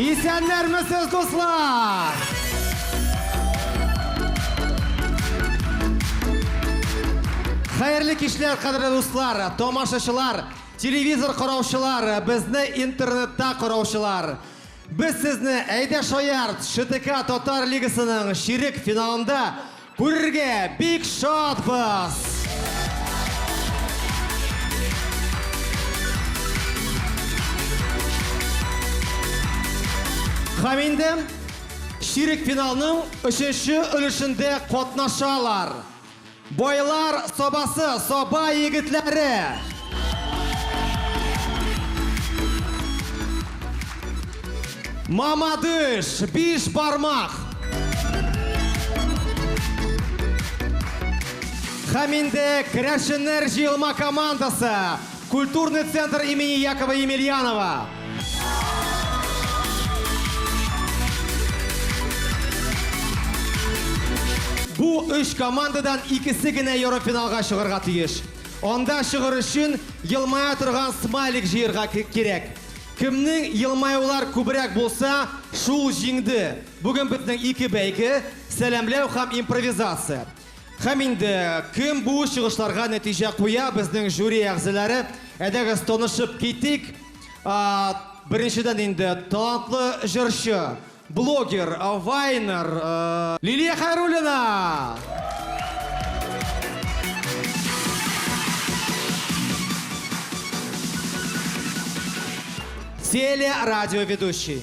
Исәннәрмесез, дуслар! Хәерле кичләр, кадерле дуслар, тамашачылар, телевизор караучылар, безне интернетта караучылар. Без сезне Әйдә шаярт! ШТК Татар лигасының чирек финалында күрергә бик шатбыз! Һәм инде чирек финалның өченче өлешендә катнашалар. Байлар сабасы, саба егетләре! Мамадыш, биш бармак! Һәм инде керәшеннәр җыелма командасы! Культурный центр имени Якова Емельянова. Бу өч командадан икесе генә ярыфиналга чыгарга тиеш. Анда чыгыр өчен елмая торган смайлик җыерга кирәк. Кемнең елмаулар күбрәк булса, шул җиңде. Бүген безнең ике бәйге, сәламләү һәм импровизация. Һәм инде кем бу чыгышларга нәтиҗә куя, безнең жюри әгъзалары. Әйдәгез, танышып китик. Беренчедән инде талантлы җырчы, блогер, вайнер. Лилия Хәйруллина! Телерадиоведущий.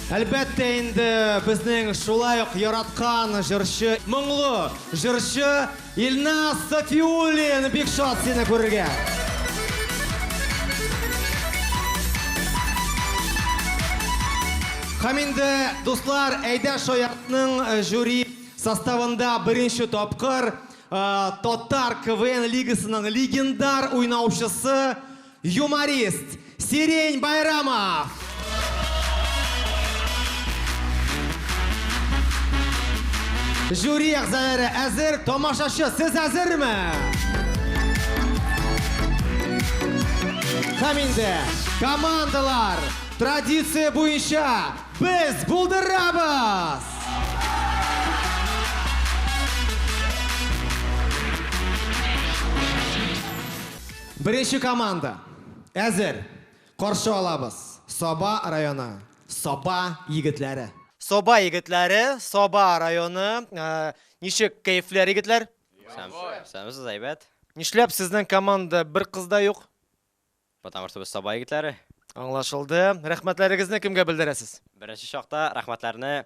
Әлбәттә инде, безнең шулай ук яраткан җырчы, моңлы җырчы Илназ Сафиуллин! Бик шат сине күрергә! Һәм инде, дуслар, әйдә Шаяртның э, жюри составында беренче тапкыр э, Татар КВН лигасының легендар уйнаучысы Юморист Сирень Байрамов! Жюри әгъзалары әзер, тамашачы, сез әзерме? Һәм инде командалар традиция буенча без булдырабыз! Беренче команда, әзер! Каршы алабыз, Саба районы, Саба егетләре. Саба егетләре, Саба районы, ничек кәефләр, егетләр? Исәнмесез, әйбәт. Нишләп сезнең команда бер кыз да юк? Потому что без Саба егетләре. Аңлашылды. Рәхмәтләрегезне кемгә белдерәсез? Беренче чакта рәхмәтләрне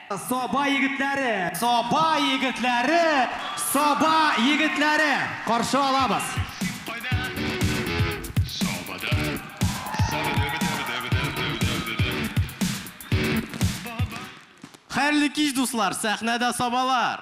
Саба егетләре! Саба егетләре! Саба егетләре! Каршы алабыз! Хәерле кич, дуслар! Сәхнәдә сабалар!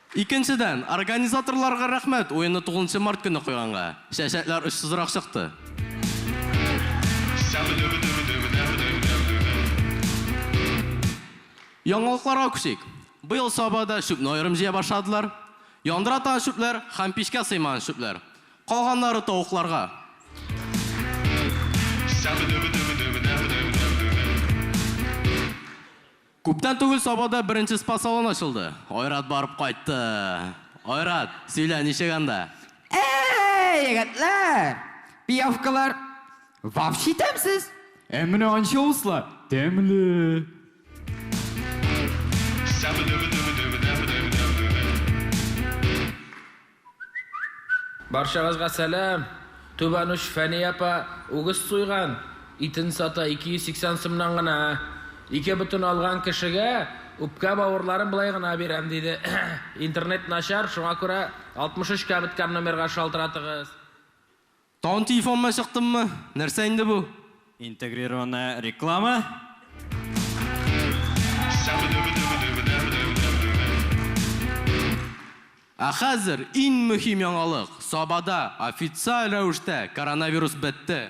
Икенчедән, организаторларга рәхмәт, уенны тугызынчы март көне куйганга, чәчәкләр очсызрак чыкты. Яңалыкларга күчик. Быел Сабада чүпне аерым җыя башладылар. Яндыра торган чүпләр һәм пичкә сыймаган чүпләр. Калганнары тавыкларга. Күптән түгел Сабада беренче спа-салон ачылды. Айрат барып кайтты. Айрат, сөйлә, ничек анда? Әй, егетләр! Пиявкалар вообще тәмсез! Ә менә анчоуслар тәмле! Барчагызга сәлам! Түбән уч Фәни апа үгез суйган, итен сата 280 сумнан гына. Ике бөтен алган кешегә үпкә бавырларын болай гына бирәм, диде. Интернет начар, шуңа күрә 63 кәбеткән номерга шалтыратыгыз. Тагын телефонына чыктыммы? Нәрсә инде бу? Интегрированная реклама. Ә хәзер иң мөһим яңалык, Сабада официаль рәвештә коронавирус бетте!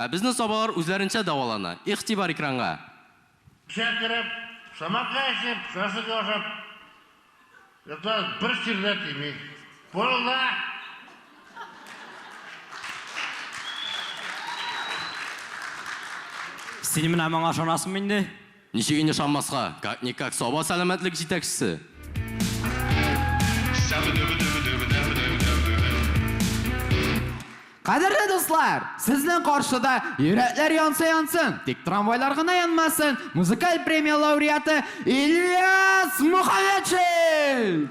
Ә безнең сабалар үзләренчә дәвалана. Игътибар экранга! Эчә кереп, самака эчеп, шашлык ашап ятабыз, бер чир дә тими. Пырылда! Син менә моңа ышанасыңмы инде? Ничек инде ышанмаска, как-никак Саба сәламәтлек җитәкчесе! Кадерле дуслар! Сезнең каршыда Йөрәкләр янса янсын, тик трамвайлар гына янмасын музыкаль премия лауреаты Ильяс Мухаметшин!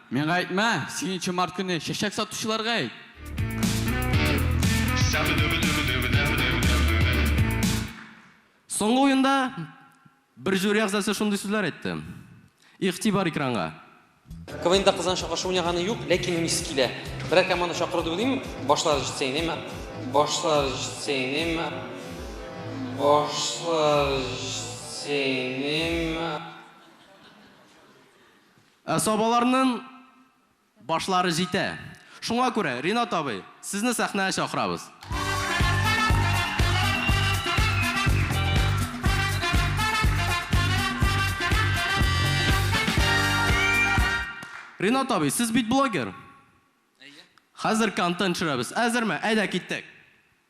Миңа әйтмә, сигенче март көне чәчәк сатучыларга әйт! Соңгы уенда бер жюри әгъзасы шундый сүзләр әйтте. Игътибар экранга! КВНда кыздан чакырышы уйнаганы юк, ләкин уйныйсы килә. Берәр команда чакырды уйлыйм, башлары җитсә генә мә, башлары җитсә генә мә, башлары җитсә генә мә. Ә сабаларның башлары җитә. Шуңа күрә, Ринат абый, сезне сәхнәгә чакырабыз. Ринат абый, сез бит блогер. Әйе. Хәзер контент төшерәбез. Әзерме? Әйдә, киттек.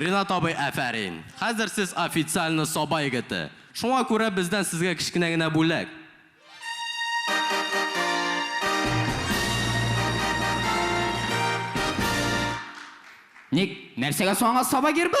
Ринат абый, афәрин! Хәзер сез официально Саба егете. Шуңа күрә бездән сезгә кечкенә генә бүләк. Ник, нәрсәгә соң аңа Саба гербы?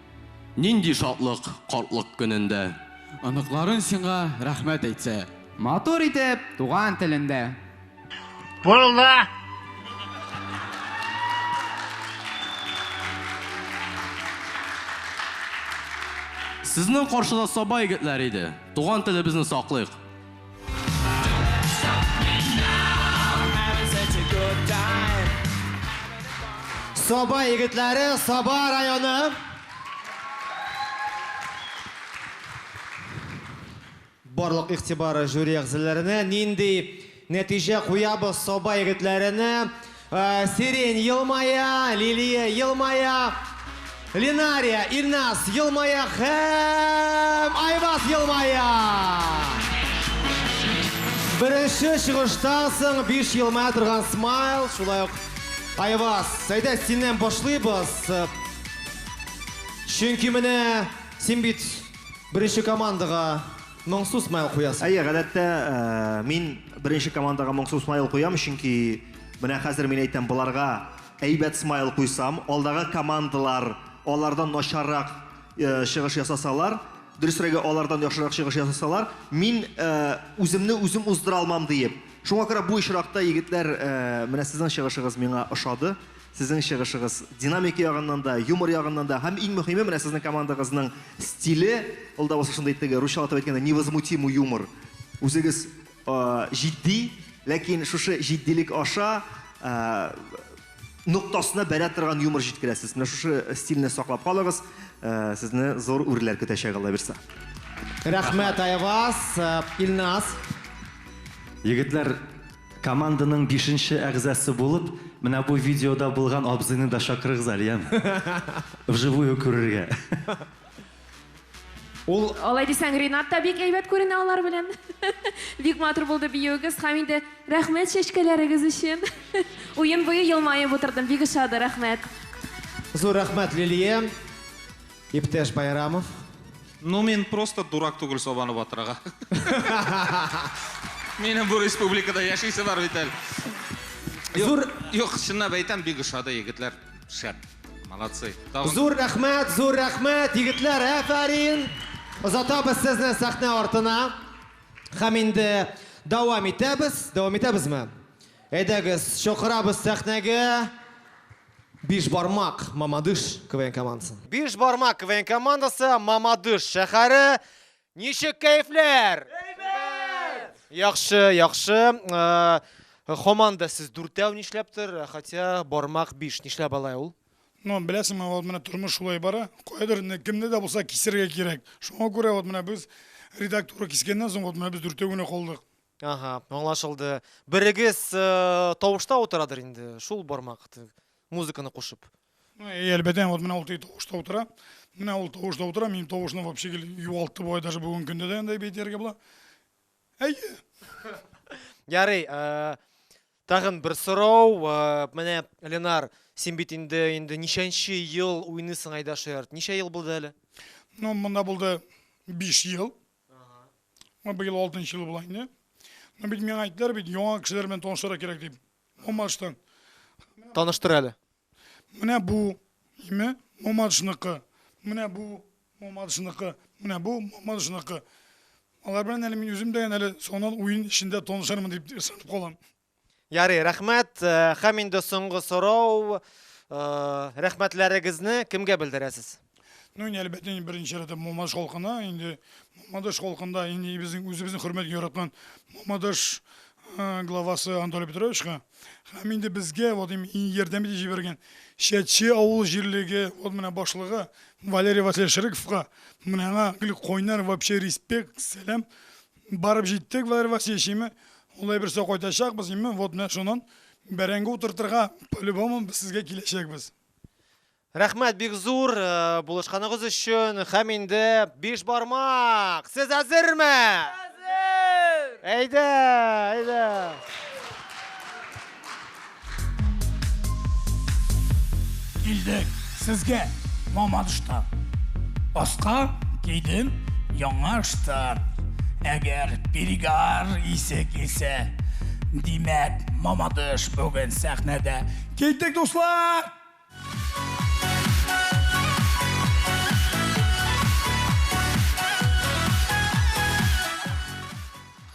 Нинди шатлык картлык көнендә. Оныкларын сиңа рәхмәт әйтсә. Матур итеп туган телендә. Булды! Сезнең каршыда саба егетләр иде. Туган телебезне саклыйк. Саба егетләре, Саба районы. Барлык игътибары жюри әгъзаларына. Нинди нәтиҗә куябыз Саба егетләренә? Сирень, елмая, Лилия, елмая, Линария, Ильназ, елмая һәм Айбас, елмая! Беренче чыгыштан соң биш елмая торган смайл, шулай ук Айбас, әйдә синнән башлыйбыз. Чөнки менә син бит беренче командага моңсу смайл куясың. Әйе, гадәттә, мин беренче командага моңсу смайл куям, чөнки Менә хәзер мин әйтәм, боларга әйбәт смайл куйсам, алдагы командалар алардан начаррак чыгыш ясасалар, дөресрәге, алардан яхшырак чыгыш ясасалар, мин үземне үзем уздыра алмам, диеп. Шуңа күрә бу очракта, егетләр, менә сезнең чыгышыгыз миңа ошады. Сезнең чыгышыгыз динамика ягыннан да, юмор ягыннан да һәм иң мөһиме, менә сезнең командагызның стиле, ул да булса шундый теге, русчалатып әйткәндә, невозмутимый юмор. Үзегез җитди, ләкин шушы җитдилек аша ноктасына бәрә торган юмор җиткерәсез. Менә шушы стильне саклап калыгыз. Сезне зур үрләр көтәчәк, Алла бирса. Рәхмәт, Айваз. Илназ. Егетләр, команданың бишенче әгъзасы булып, менә бу видеода булган абзыйны да чакырыгыз әле, яме? Вживую күрергә. Ул Алай дисәң, Ринат та бик әйбәт күренә алар белән. Бик матур булды биюегез һәм инде рәхмәт чәчкәләрегез өчен. Уен буе елмаеп утырдым, бик ошады, рәхмәт. Зур рәхмәт, Лилия. Иптәш Байрамов. Ну мин просто дурак түгел сабаны батырырга. Минем бу республикада яшисе бар бит әле. Зур Юк, чынлап әйтәм, бик ошады, егетләр. Шәп. Молодцы. Зур рәхмәт, зур рәхмәт, егетләр, әфәрин! Озатабыз сезне сәхнә артына. Һәм инде дәвам итәбез. Дәвам итәбезме? Әйдәгез, чакырабыз сәхнәгә Бишбармак Мамадыш КВН командасын. Бишбармак КВН командасы Мамадыш шәһәре Ничек кәефләр? Әйбәт! Яхшы, яхшы. Хоманда сез дүртәү нишләптер, хотя бармак биш. Нишләп алай ул? Ну, беләсең, вот менә тормыш шулай бара. Кайдыр инде кемне дә булса кисергә кирәк. Шуңа күрә вот менә без редактура кискәннән соң вот менә без дүртәү генә калдык. Ага, аңлашылды. Берегез э, тавышта утырадыр инде, шул бармак т- музыканы кушып. Ну, и әлбәттә, вот менә ул теге тавышта утыра. Менә ул тавышта утыра, минем тавышны вообще гел югалтты бу, даже бүгенге көндә дә андай бит ярга була. Әйе. Ярый, э, тагын бер сорау. э, Менә Ленар, син бит инде инде ничәнче ел уйныйсың Айдашерт? Ничә ел булды әле? Ну, монда булды 5 ел. Менә быел алтынчы ел була инде. Ну бит миңа әйттеләр бит, яңа кешеләр белән танышырга кирәк дип. Мамадыштан. Таныштыр әле. Менә бу име Мамадышныкы. Менә бу Мамадышныкы. Менә бу Мамадышныкы. Алар белән әле мин үзем дә әле соңыннан уен эчендә танышырмын дип ышанып калам. Ярый, рәхмәт. Э, Хәм инде соңгы сорау. Э, рәхмәтләрегезне кемгә белдерәсез? Ну, инде әлбәттә, инде беренче рәттә Мамадыш халкына, инде Мамадыш халкында инде безнең үзебезнең хөрмәт яраткан Мамадыш э, главасы Анатолий Петровичка һәм инде безгә вот им ярдәм итеп җибәргән Шәтче авыл җирлеге вот менә башлыгы Валерий Васильевич Шыриковка менә аңа гел кайнар вообще респект, сәлам. Барып җиттек, Валерий Васильевич, ими, ул әйбер сау кайтачакбыз, ими, вот менә шунын бәрәңге утыртырга, по любому без сезгә киләчәкбез. Рәхмәт бик зур булышканыгыз өчен һәм инде биш бармак! Сез әзерме? Әзер! Әйдә, әйдә! Килдек сезгә, маман штаб. Аска кидем яңа штаб. Әгәр перегар исе килсә, димәк, мамадыш бүген сәхнәдә. Киттек, дуслар!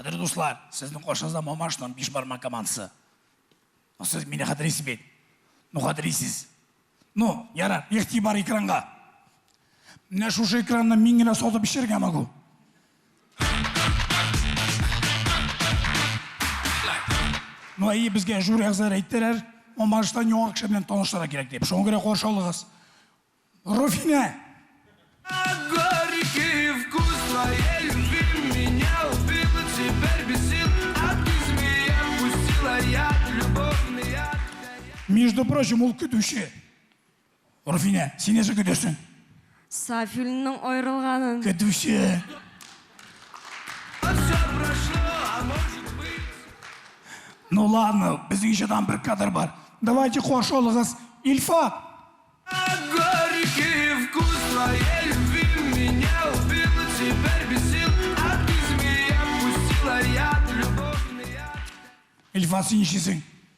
Кадерле дуслар, сезнең каршыгызда Мамашның биш бармак командасы. Сез мине хәтерлисез бит? Ну, хәтерлисез. Ну, яра, игътибар экранга. Менә шушы экранны мин генә сатып эчәргә могу. Ну, әйе, безгә Жур Әгзәр әйттеләр, Мамаштан яңа кеше белән таныштыра кирәк дип. Шуңа күрә каршы алыгыз. Руфинә! Горький вкус твоей любви меня убил, теперь бесил, а ты змея пустила яд, любовный яд. Между прочим, ул көтүче. Руфинә, син нәрсә көтәсең? Сафилнең аерылганын. Көтүче. Ну ладно, безнең җырдан бер кадр бар. Давайте каршы алыгыз, Ильфат! Горький вкус твоей любви меня убил Теперь без сил, а ты змея пустила яд любовный яд. Ильфат, син ничисең?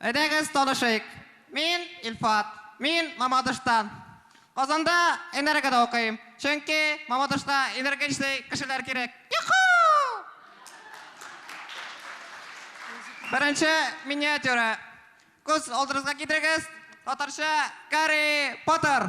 Әйдәгез танышыйк, мин, Илфат. Мин, Мамадыштан. Казанда Энергода укыйм, чөнки Мамадышта энергичный кешеләр кирәк. Йоху! Беренче миниатюра. Күз алдырызга китерегез, татарча Гарри Поттер.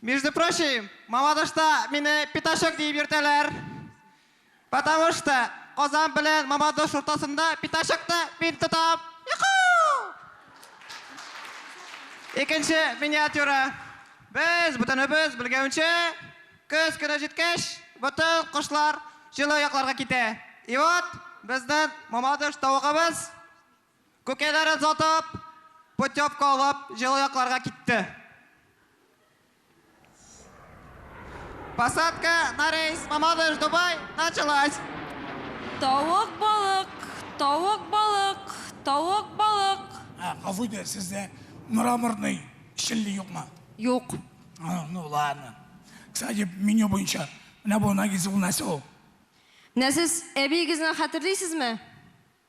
Между прочим, Мамадышта мине пятачок диеп йөртәләр. Потому что Казан белән Мамадыш уртасында пятачокны мин тотам. Юху! Икенче миниатюра. Без, бөтенебез белгәнчә, көз көне җиткәч, бөтен кошлар җылы якларга китә. И вот, безнең Мамадыш тавыгыбыз Күкәйләрен сатып, путевка алып, җылы якларга китте. Посадка на рейс Мамадыш-Дубай началась! Тавык, балык, тавык, балык, тавык, балык. Ә, гафу итегез, сездә мраморный челли юкмы? Юк. А, ну ладно. Кстати, меню буенча, менә бу Нагиз ул нәрсә ул? Менә сез әбиегезне хәтерлисезме?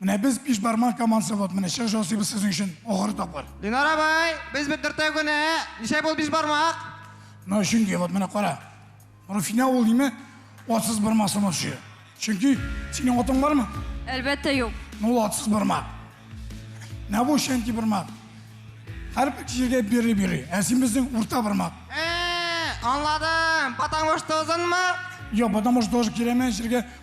Менә без биш бармак командасы вот менә чыгыш ясыйбыз сезнең өчен ахыр тапкыр. Ленар абай, без бит дүртәү генә. Ничә бул биш бармак? Менә чөнки вот менә кара. Руфина ул ниме? Атсыз бармак сынатчы. Чөнки синең атың бармы? Әлбәттә юк. Ну ул атсыз бармак. Менә бу чөнки бармак. Һәр кешегә бери бери. Ә син безнең урта бармак. Э, аңладым. Потому что озынмы? Йо, потому что тоже кирәмәс җиргә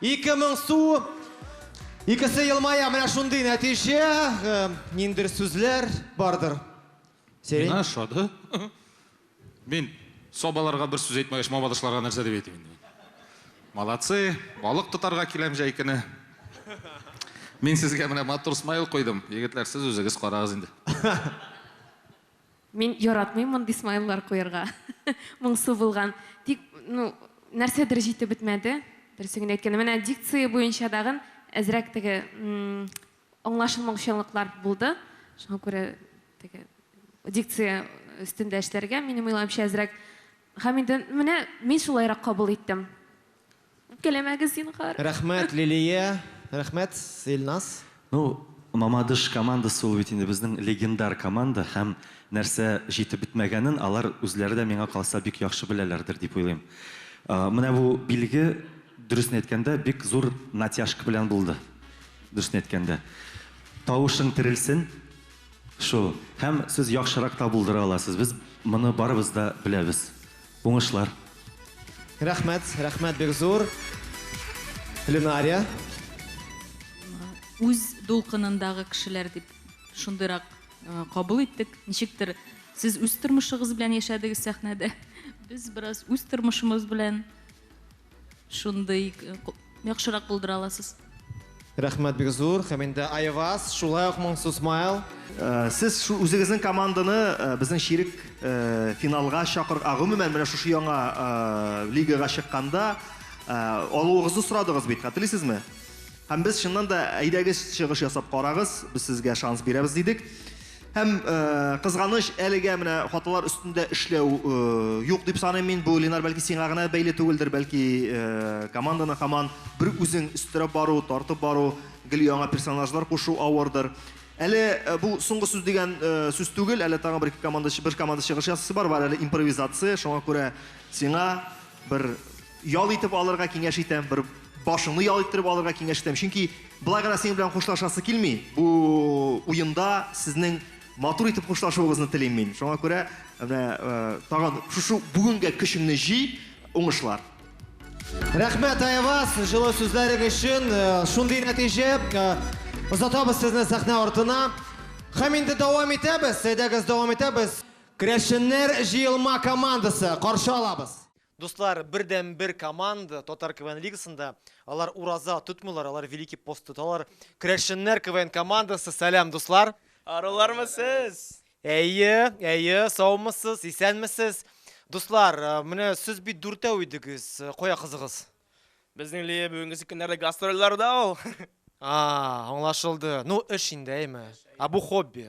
Ике мең су. Икесе елмая, менә шундый нәтиҗә. Э, ниндер сүзләр бардыр. Сирень. Мина шады. Мин собаларга бер сүз әйтмәгәч, мабадышларга нәрсә дип әйтим инде. Молодцы, балык тотарга киләм җәй көне. Мин сезгә менә матур смайл куйдым. Егетләр, сез үзегез карагыз инде. Мин яратмыйм мондый смайллар куярга. Моңсу булган. Тик, ну, нәрсәдер җитеп бетмәде. Дөресен генә әйткәндә, менә дикция буенча тагын әзрәк теге аңлашылмаучанлыклар булды. Шуңа күрә теге дикция өстендә эшләргә, минем уйлавымча, әзрәк. Һәм инде менә мин шулайрак кабул иттем. Үпкәләмәгез, зинһар. Рәхмәт, Лилия! Рәхмәт, Илназ! Ну, Мамадыш командасы ул бит инде безнең легендар команда һәм нәрсә җитеп бетмәгәнен алар үзләре дә миңа калса бик яхшы беләләрдер дип уйлыйм. Менә бу билге, дөресен әйткәндә, бик зур натяжка белән булды, дөресен әйткәндә. Тавышың терелсен! Шул. Һәм сез яхшырак та булдыра аласыз, без моны барыбыз да беләбез. Уңышлар. Рәхмәт, рәхмәт бик зур. Ленария. Үз дулкынындагы кешеләр дип шундыйрак кабул иттек. Ничектер сез үз тормышыгыз белән яшәдегез сәхнәдә. Без бераз үз тормышымыз белән Шундый яхшырак булдыра аласыз. Рәхмәт бик зур һәм инде Айваз, шулай ук моңсу смайл. Э, сез шу үзегезнең команданы э, безнең ширек э, финалга чакыр, а гомумән менә шушы яңа лигага чыкканда алуыгызны сорадыгыз бит, хәтерлисезме? Һәм без чыннан да әйдәгез чыгыш ясап карагыз, без сезгә шанс бирәбез дидек. Һәм, кызганыч, әлегә менә хаталар өстендә эшләү юк дип саныйм мин. Бу, Ленар, бәлки сиңа гына бәйле түгелдер, бәлки команданы һаман бер үзең өстерәп бару, тартып бару, гел яңа персонажлар кушу авырдыр. Әле бу соңгы сүз дигән сүз түгел, әле тагын бер команда, бер команда чыгыш ясасы бар, бар әле импровизация, шуңа күрә сиңа бер Ял итеп алырга киңәш итәм, бер башыңны ял иттереп алырга киңәш итәм, чөнки болай гына синең белән хушлашасы килми. Бу уенда сезнең матур итеп хушлашуыгызны телим мин. Шуңа күрә менә тагын шушы бүгенгә көчеңне җый, уңышлар. Рәхмәт, Айваз, җылы сүзләрең өчен. Шундый нәтиҗә. Озатабыз сезне сәхнә артына. Һәм инде дәвам итәбез. Әйдәгез, дәвам итәбез. Керәшеннәр җыелма командасы, каршы алабыз. Дуслар, бердәнбер команда Татар КВН лигасында. Алар ураза тотмыйлар, алар Великий пост тоталар. Крәшеннәр КВН командасы, сәлам, дуслар! Арулармы сез? Әйе, әйе, саумысыз, исәнмесез. Дуслар, менә сез бит дүртәү идегез, кая кызыгыз? Безнең Лия бүгенгесе көннәрдә гастрольләрдә ул. А, аңлашылды. Ну, эш инде, әйме? Ә бу хобби?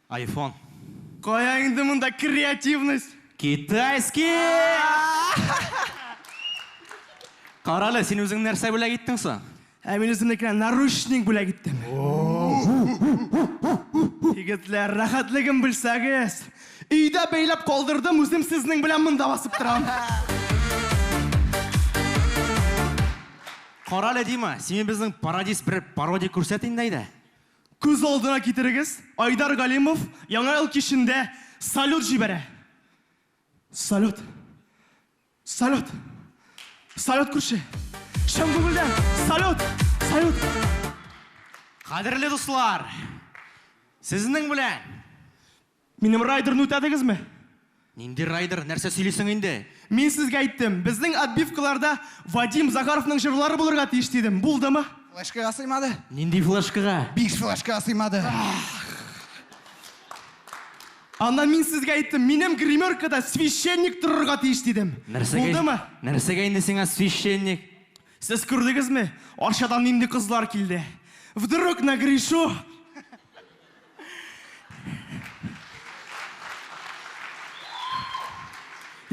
Айфон. Кая инде монда креативность? Китайский! Карале, син үзең нәрсә бүләк иттең соң? Ә мин үземнекенә наручник бүләк иттем. Егетләр, рәхәтлеген белсәгез! Өйдә бәйләп калдырдым, үзем сезнең белән монда басып торам. Карале, Дима, сине безнең пародист бер пародия күрсәт инде, әйдә. Күз алдына китерегез, Айдар Галимов Яңа ел кичендә салют җибәрә. Салют! Салют! Салют, күрше! Чын күңелдән салют! Салют! Кадерле дуслар! Сезнең белән Минем райдерны үтәдегезме? Нинди райдер? Нәрсә сөйлисең инде? Мин сезгә әйттем, безнең отбивкаларда Вадим Захаровның җырлары булырга тиеш дидем. Булдымы? Флешкага сыймады. Нинди флешкага? Биш флешкага сыймады. Аннан мин сезгә әйттем, минем гримеркада священник торырга тиеш дидем. Нәрсәгә? Булдымы? Нәрсәгә инде сиңа священник? Сез күрдегезме, Арчадан нинди кызлар килде? Вдруг нагрешу?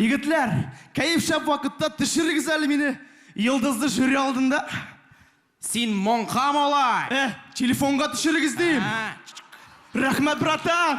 Егетләр, кәеф шәп вакытта төшерегез әле мине йолдызлы жюри алдында. Син моңка малай. Э, телефонга төшерегез дим. Рәхмәт, братан.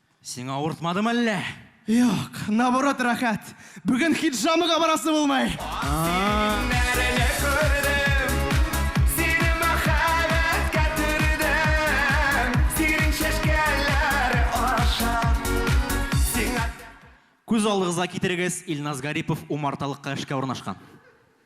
Сиңа авыртмадымы әллә? Юк, наоборот рәхәт. Бүген хиджамага барасы булмый. Күз алдыгызга китерегез, Илназ Гарипов умарталыкка эшкә урнашкан.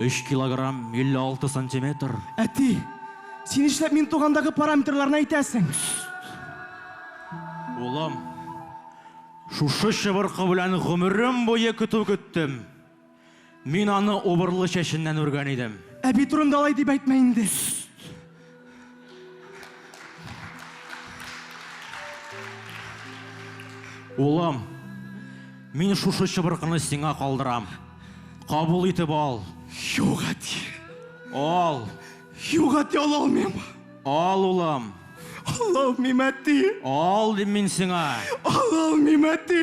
Өч килограмм, 56 сантиметр. Әти! Син нишләп мин тугандагы параметрларны әйтәсең? Улым, шушы чыбыркы белән гомерем буе көтү көттем. Мин аны убырлы чәченнән үргән идем. Әби турында алай дип әйтмә инде. Улым, мин шушы чыбыркыны сиңа калдырам. Кабул итеп ал. Юк, әти. Ал. Юк, әти, ала алмыйм. Ал, улым. Ала алмыйм, әти. Ал, дим мин сиңа. Ала алмыйм, әти.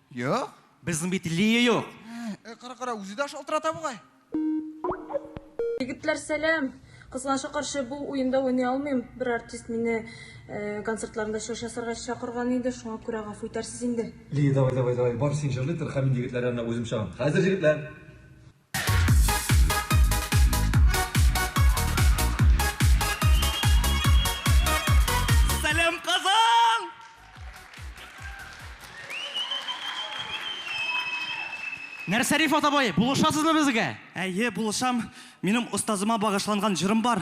Юк. Безнең бит Лия юк. Э, кара, кара, үзе дә шалтырата бугай. Егетләр, сәлам! Кызганычка каршы, бу уенда уйный алмыйм. Бер артист мине э, концертларында чыгыш ясарга чакырган иде, шуңа күрә гафу итәрсез инде. Лия, давай, давай, давай, бар, син җырлый тор, һәм мин егетләр янына үзем чыгам. Хәзер, җегетләр! Нәрсәриф атабай, булышасызмы безгә? Әйе, булышам. Минем остазыма багышланган җырым бар.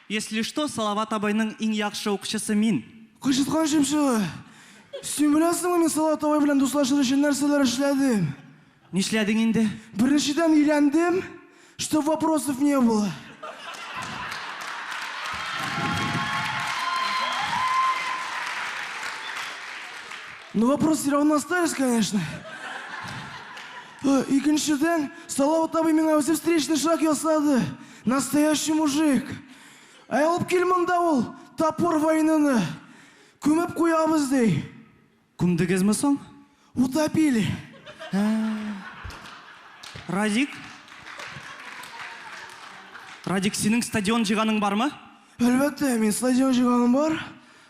Если что, Салават абыйның иң яхшы укчысы мин. Кычыткан чыпчыгы! Син беләсеңме, мин Салават абый белән дуслашыр өчен нәрсәләр эшләдем? Нишләдең инде? Беренчедән, өйләндем, чтоб вопросов не было. Ну, вопросы все равно остались, конечно. Икенчедән, Салават абый миңа үзе встречный шаг ясады. Настоящий мужик! Әй, алып кил монда ул топор войнаны! Күмеп куябыз, ди. Күмдегезме соң? Утопили. Радик? Радик, синең стадион җыйганың бармы? Әлбәттә, мин стадион җыйганым бар.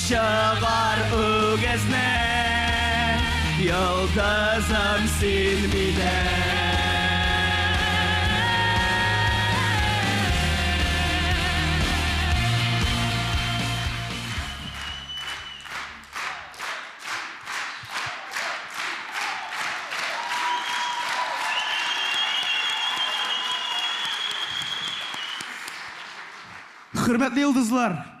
Чыгар үгезне, йолдызым син минем. Хөрмәтле йолдызлар!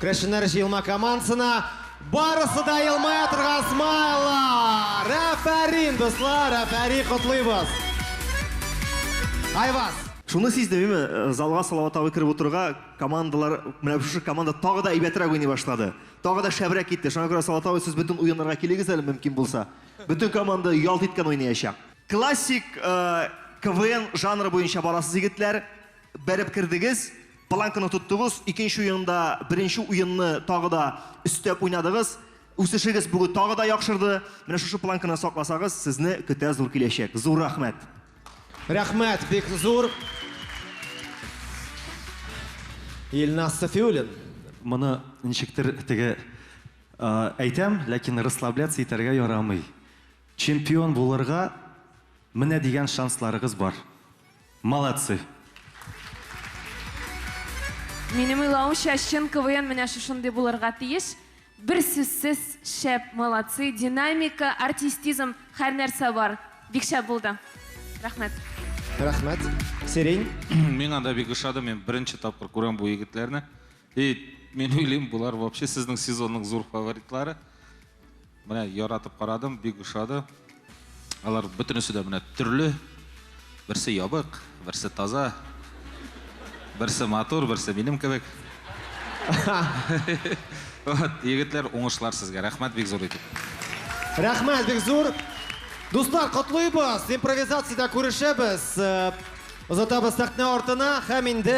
Керәшеннәр җыелма командасына барысы да елмая торган смайлар! Әфәрин, дуслар, әфәри котлыйбыз! Айваз! Шуны сизде, миме, э, залга Салават абый кереп утырга, командалар, менә шушы команда тагы да әйбәтрәк уйный башлады. Тагы да шәбрәк китте. Шуңа күрә Салават абый сез бөтен уеннарга килегез әле мөмкин булса. Бөтен команда ялт иткән уйнаячак. Классик э, КВН жанры буенча барасыз, егетләр. Бәреп кердегез. Планканы тоттыгыз, икенче уенда беренче уенны тагы да өстәп уйнадыгыз. Үсешегез бүген тагы да яхшырды. Менә шушы планканы сакласагыз, сезне көтә зур киләчәк. Зур рәхмәт. Рәхмәт, бик зур. Илназ Сафиуллин. Моны ничектер теге әйтәм, ләкин расслабляться итәргә ярамый. Чемпион булырга менә дигән шансларыгыз бар. Молодцы! Минем уйлавымча, чын КВН менә шушындый булырга тиеш. Бер сүзсез шәп, молодцы, динамика, артистизм, һәр нәрсә бар. Бик шәп булды. Рәхмәт. Рәхмәт. Сирень. Миңа да бик ошады, мин беренче тапкыр күрәм бу егетләрне. И, мин уйлыйм, болар вообще сезнең сезонның зур фаворитлары. Менә яратып карадым, бик ошады. Алар бөтенесе дә менә төрле. Берсе ябык, берсе таза. Берсе матур, берсе минем кебек. Вот, егетләр, уңышлар сезгә. Рәхмәт бик зур итеп. Рәхмәт бик зур. Дуслар, котлыйбыз. Импровизациядә күрешәбез. Озатабыз сәхнә артына һәм инде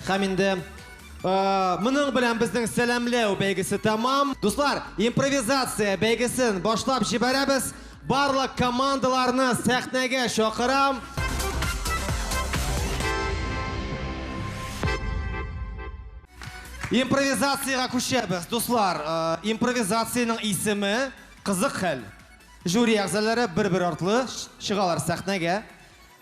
һәм инде Моның белән безнең сәламләү бәйгесе тәмам. Дуслар, импровизация бәйгесен башлап җибәрәбез. Барлык командаларны сәхнәгә чакырам. Импровизациягә күчәбез, дуслар. Импровизациянең исеме Кызык хәл. Жюри әгъзалары бер-бер артлы чыгалар сәхнәгә.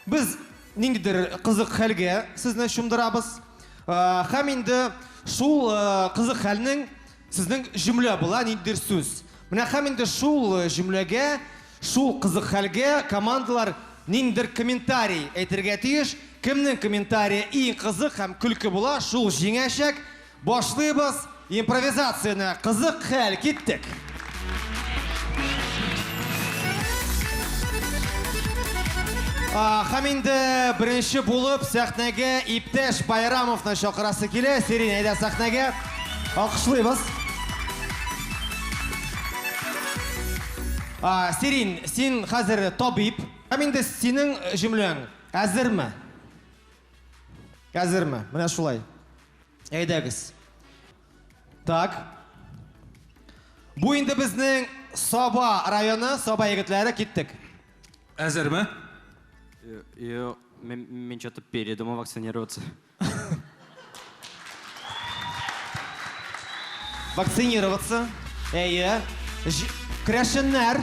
Без ниндидер кызык хәлгә сезне чумдырабыз. Һәм инде шул кызык хәлнең сезнең җөмлә була, ниндидер сүз. Менә һәм инде шул җөмләгә, шул кызык хәлгә командалар ниндидер комментарий әйтергә тиеш. Кемнең комментарие иң кызык һәм көлке була, шул җиңәчәк. Башлыйбыз импровизацияне. Кызык хәл, киттек. Хәм инде беренче булып сәхнәгә иптәш Байрамовны чакырасы килә. Сирин, әйдә сәхнәгә. Алкышлыйбыз. Сирин, син хәзер табиб. Хәм инде синең җөмләң әзерме? Әзерме? Менә шулай. Әйдәгез. Так. Бу инде безнең Саба районы, Саба егетләре киттек. Әзерме? Йо, мен, мен что-то передумал вакцинироваться. Вакцинироваться. Әйе. Ж- Керәшеннәр.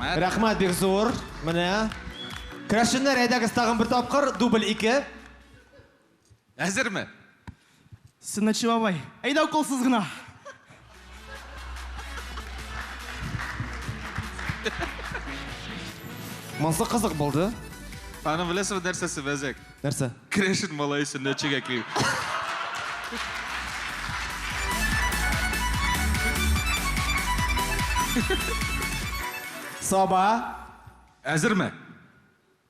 Рәхмәт. Рәхмәт бик зур. Менә. Крәшеннәр, әйдәгез тагын бер тапкыр, дубль ике. Әзерме? Сыннычы бабай, әйдә уколсыз гына. Монсы кызык булды. Ханым, беләсезме нәрсәсе бәзәк? Нәрсә? Керәшен малае сөннәтчегә киң. Саба. Әзерме?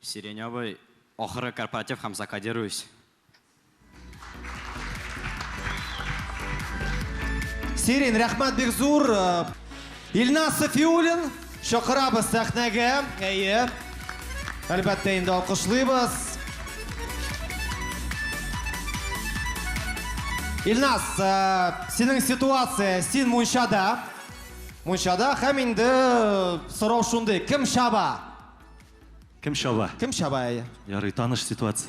Сирень абый, ахыргы корпоратив һәм закодируюсь. Сирин, рәхмәт бик зур. Илназ Сафиуллин, чакырабыз сәхнәгә. Әйе. Әлбәттә инде алкышлыйбыз. Илназ, э, синең ситуация, син мунчада. Мунчада һәм инде э, сорау шундый, кем шаба? Кем шаба? Кем шаба әйе? Ярый, таныш ситуация.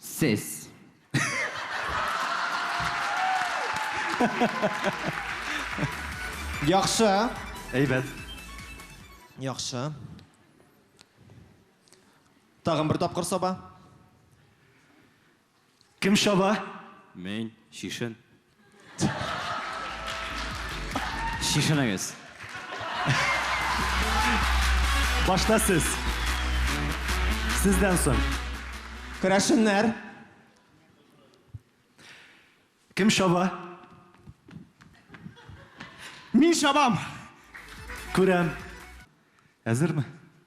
Сез. Яхшы. Әйбәт. Яхшы. Тагын бер тапкыр саба. Кем чаба? Мин, чишен. Чишенегез. Башта сез. Сездән соң. Керәшеннәр. Кем чаба? Мин чабам. Күрәм. Әзерме?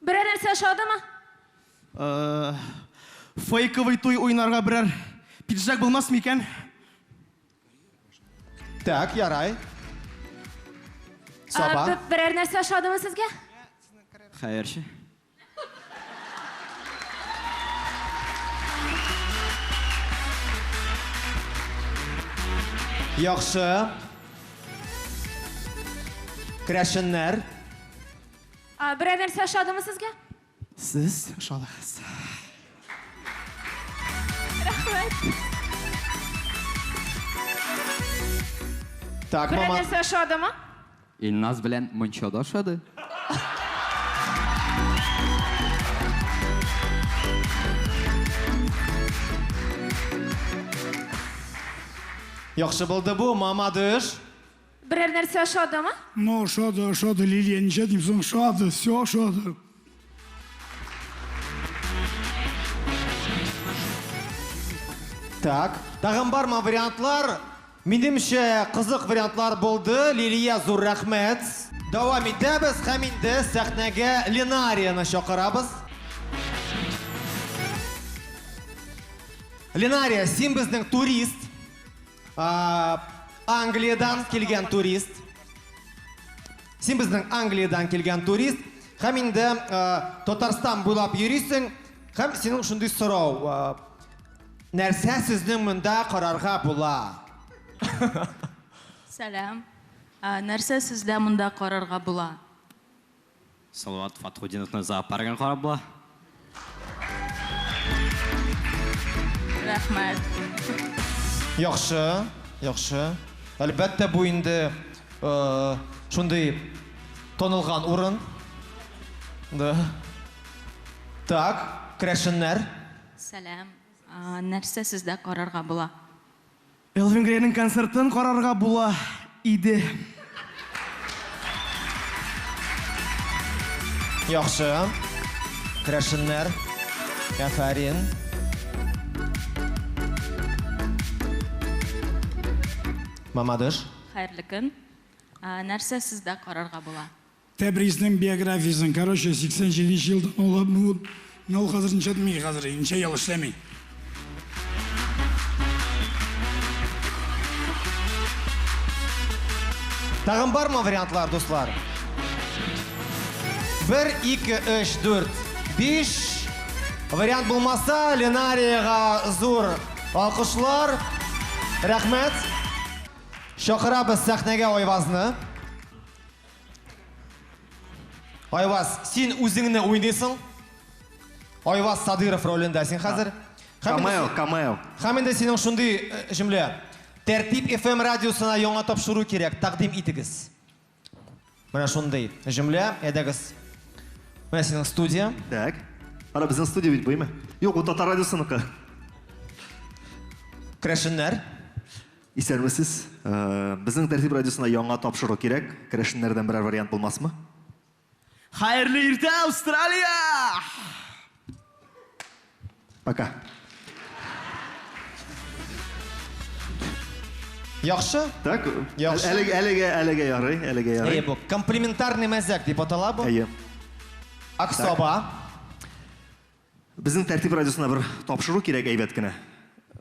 Берәр нәрсә ошадымы? Фейковый туй уйнарга берәр пиджак булмас микән? Так, ярай. Саба. Берәр нәрсә ошадымы сезгә? Хәерче. Яхшы. Крәшеннәр. А, берәр нәрсә ошадымы сезгә? Сез ошадыгыз. Рәхмәт. Так, Берәр мама. нәрсә ошадымы? Илназ белән Мончада ошады. Яхшы булды бу, мама дыш. Берәр нәрсә ошадымы? Ну, ошады, ошады, Лилия, ничә дим соң, ошады, все ошады. Так, тагын бармы вариантлар? Минемчә, кызык вариантлар булды. Лилия, зур рәхмәт. Дәвам итәбез һәм инде сәхнәгә Ленарияны чакырабыз. Ленария, син безнең турист. А, Англиядән килгән турист. Син безнең Англиядән килгән турист. Һәм инде а, Татарстан буйлап йөрисең. Һәм синең шундый сорау. а, Нәрсә сезнең монда карарга була? Сәлам. Ә, Нәрсә сездә монда карарга була? Салават Фатхутдиновны зоопаргын карап була. Рәхмәт. Яхшы, яхшы. Әлбәттә, бу инде шундый танылган урын. Да. Так, керәшеннәр. Сәлам. Нәрсә сездә карарга була? Элвин Грейның концертын карарга була иде. Яхшы. Керәшеннәр. Әфәрин. Мамадыш. Хәерле көн. Нәрсә сездә карарга була? Тәбризнең биографиясен, короче, 87 нче ел туган ул. Менә ул хәзер ничә дими хәзер, ничә ел эшләми. Тагын бармы вариантлар, дуслар? Бер, ике, өч, дүрт, биш. Вариант булмаса, Ленариягә зур алкышлар. Рәхмәт. Чакырабыз сәхнәгә Айвазны. Айваз, син үзеңне уйныйсың. Айваз Садыров ролендә син хәзер. Камео, камео. Хәм инде синең шундый э, җөмлә. Тәртип FM радиосына яңа тапшыру кирәк, тәкъдим итегез. Менә шундый җөмлә, әйдәгез. Менә синең студия. Так. Ара безнең студия бит буймы? Юк, бу татар радиосыныкы. Крәшеннәр. Исәнмесез. Безнең Тәртип радиосына яңа тапшыру кирәк. Керәшеннәрдән берәр вариант булмасмы? Хәерле иртә, Австралия! Пока. Яхшы? Так. Яхшы. Әлеге, әлеге, әлеге ярый, әлеге ярый. Әйе, бу комплементарный мәзәк дип атала бу. Әйе. Аксаба. Безнең Тәртип радиосына бер тапшыру кирәк әйбәт кенә.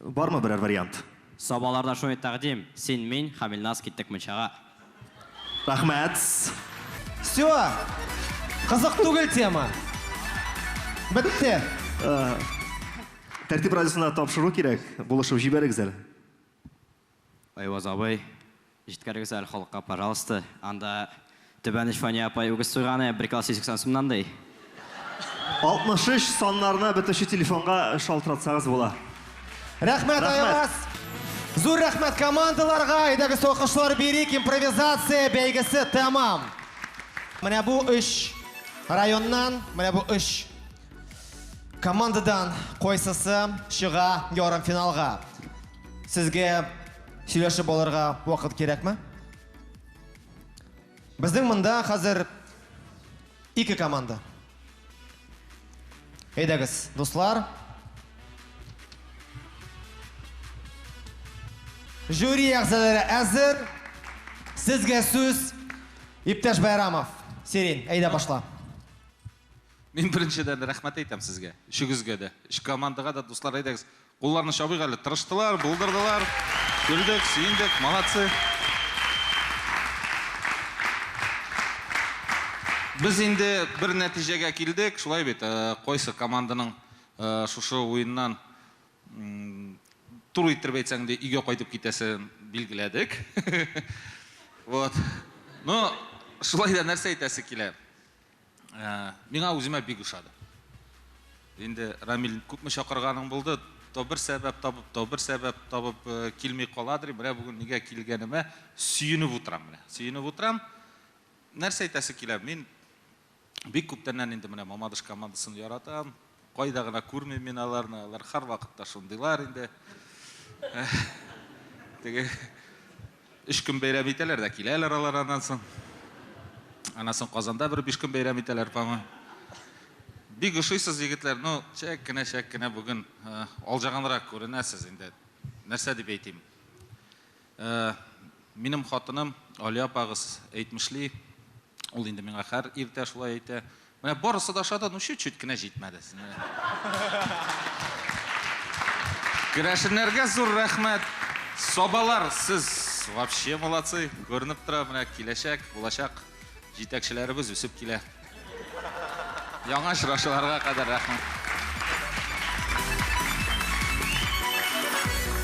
Бармы берәр вариант? Сабаларда шундый тәкъдим, син, мин, Хамилназ киттек мунчага. Рәхмәт. Всё! Кызык түгел тема. Бетте. Тәртип радиосына тапшыру кирәк, булышып җибәрегез әле. Айваз абый, җиткерегез әле халыкка, пожалуйста, анда Түбән оч Фания апай үгез суйганы бер кило 180 сумнан, ди. 63 саннарына бетүче телефонга шалтыратсагыз була. Рәхмәт, Айваз! Зур рәхмәт командаларга! Әйдәгез алкышлар бирик, импровизация бәйгесе тәмам! Менә бу өч районнан, менә бу өч командадан кайсысы чыга ярымфиналга? Сезгә сөйләшеп алырга вакыт кирәкме? Безнең монда хәзер ике команда. Әйдәгез, дуслар. Жюри әгъзалары әзер. Сезгә сүз Иптәш Байрамов. Сирин, әйдә башла. Мин беренчедән рәхмәт әйтәм сезгә. Өчегезгә дә. Өч командага да дуслар әйдәгез. Кулларны чабыйк әле, тырыштылар, булдырдылар, көлдек, сөендек, молодцы. Без инде бер нәтиҗәгә килдек, шулай бит, кайсы команданың шушы уеннан туры иттереп әйтсәң инде өйгә кайтып китәсен билгеләдек. Вот. Ну, шулай да нәрсә әйтәсе килә? Ә, миңа үземә бик ошады. Инде Рамил күпме чакырганың булды, то бер сәбәп табып, то бер сәбәп табып э, килми каладыр. Менә бүген нигә килгәнемә сөенеп утырам менә. Сөенеп утырам. Нәрсә әйтәсе килә? Мин бик күптәннән инде менә Мамадыш командасын яратам. Кайда гына күрмим мин аларны, алар һәрвакытта шундыйлар инде. Теге өч көн бәйрәм итәләр дә киләләр алар аннан соң. Аннан соң Казанда бер биш көн бәйрәм итәләр, по-моему. Бик ошыйсыз, егетләр. Ну, чәк кенә, чәк кенә бүген алҗаганрак күренәсез инде. Нәрсә дип әйтим? Ә минем хатыным Алия апагыз әйтмешли, ул инде миңа хәр иртә шулай әйтә, Менә барысы да ошады, ну чуть-чуть кенә җитмәде. Керәшеннәргә зур рәхмәт! Сабалар, сез вообще молодцы! Күренеп тора, менә киләчәк, булачак җитәкчеләребез үсеп килә. Яңа очрашуларга кадәр рәхмәт.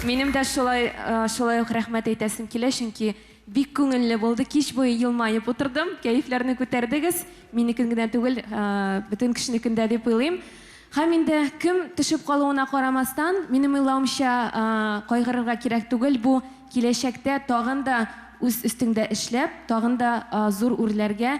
Минем дә шулай, шулай ук рәхмәт әйтәсем килә, чөнки бик күңелле булды, кич буе елмаеп утырдым, кәефләрне күтәрдегез, минекен генә түгел, бөтен кешенекен дә дип уйлыйм. Һәм инде кем төшеп калуына карамастан, минем уйлавымча, кайгырырга кирәк түгел, бу киләчәктә тагын да үз өстеңдә эшләп, тагын да зур үрләргә,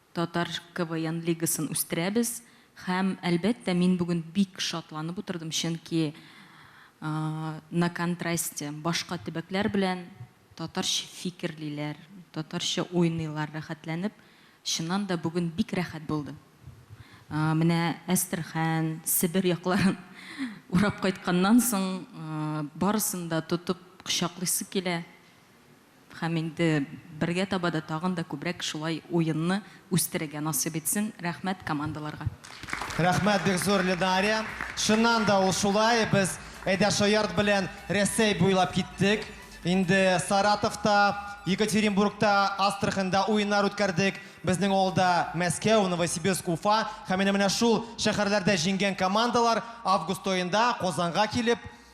Татар КВН лигасын үстерәбез һәм, әлбәттә, мин бүген бик шатланып утырдым, чөнки на контрасте башка төбәкләр белән татарча фикерлиләр, татарча уйныйлар рәхәтләнеп. Чыннан да, бүген бик рәхәт булды. Менә Әстерхан, Себер якларын урап кайтканнан соң, барысын да тотып кочаклыйсы килә. Һәм инде бергә таба да тагын да күбрәк шулай уенны үстерергә насыйп итсен. Рәхмәт командаларга. Рәхмәт бик зур Лидария. Чыннан да ул шулай, без Әйдә шаярт белән Рәсәй буйлап киттек. Инде Саратовта, Екатеринбургта, Астраханьда уеннар үткәрдек. Безнең алда Мәскәү, Новосибирск, Уфа һәм менә-менә шул шәһәрләрдә җиңгән командалар август аенда Казанга килеп,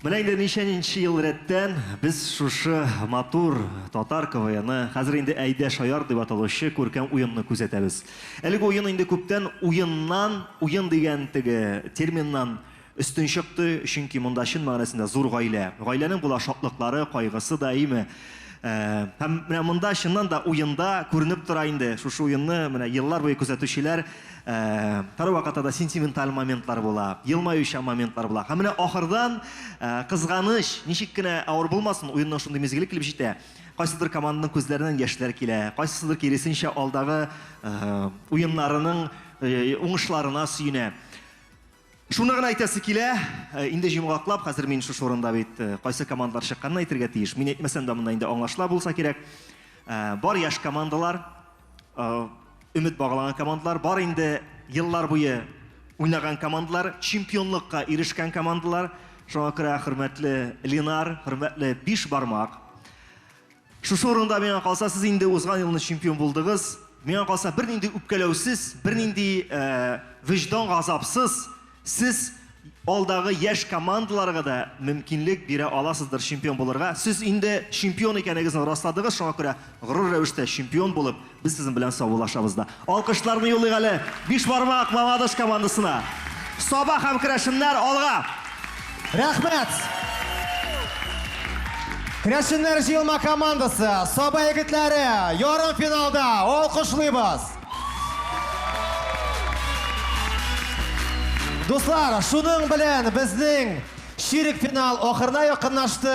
Менә инде ничәнинче ел рәттән без шушы матур татар КВНы, хәзер инде Әйдә шаяр дип аталучы күркәм уенны күзәтәбез. Әлеге уен инде күптән уеннан, уен дигән теге терминнан өстен чыкты, чөнки монда чын мәгънәсендә зур гаилә. Гаиләнең була шатлыклары, кайгысы да, әйеме? Ә, һәм менә монда чыннан да уенда күренеп тора инде, шушы уенны менә еллар буе күзәтүчеләр, Һәрвакытта да сентименталь моментлар була, елмаючан моментлар була. Һәм менә ахырдан, кызганыч, ничек кенә авыр булмасын, уенның шундый мизгеле килеп җитә, кайсыдыр команданың күзләреннән яшьләр килә, кайсысыдыр киресенчә алдагы уеннарының уңышларына сөенә. Шуны гына әйтәсе килә, инде җомгаклап, хәзер мин шушы урында бит кайсы командалар чыкканын әйтергә тиеш. Мин әйтмәсәм дә монда инде аңлашыла булса кирәк. Бар яшь командалар, өмет баглаган командалар, бар инде еллар буе уйнаган командалар, чемпионлыкка ирешкән командалар. Шуңа күрә, хөрмәтле Ленар, хөрмәтле Биш Бармак, Шушы урында миңа калса, сез инде узган елны чемпион булдыгыз. Миңа калса, бернинди үпкәләүсез, бернинди вөҗдан газапсыз сез алдагы яшь командаларга да мөмкинлек бирә аласыздыр чемпион булырга. Сез инде чемпион икәнегезне расладыгыз, шуңа күрә горур рәвештә чемпион булып, Без сезнең белән саубуллашабыз да. Алкышларны юллыйк әле Бишбармак Мамадыш командасына. Саба һәм керәшеннәр алга! Рәхмәт! Керәшеннәр җыелма командасы, Саба егетләре ярымфиналда! Алкышлыйбыз! Дуслар, шуның белән безнең чирек финал ахырына якынлашты.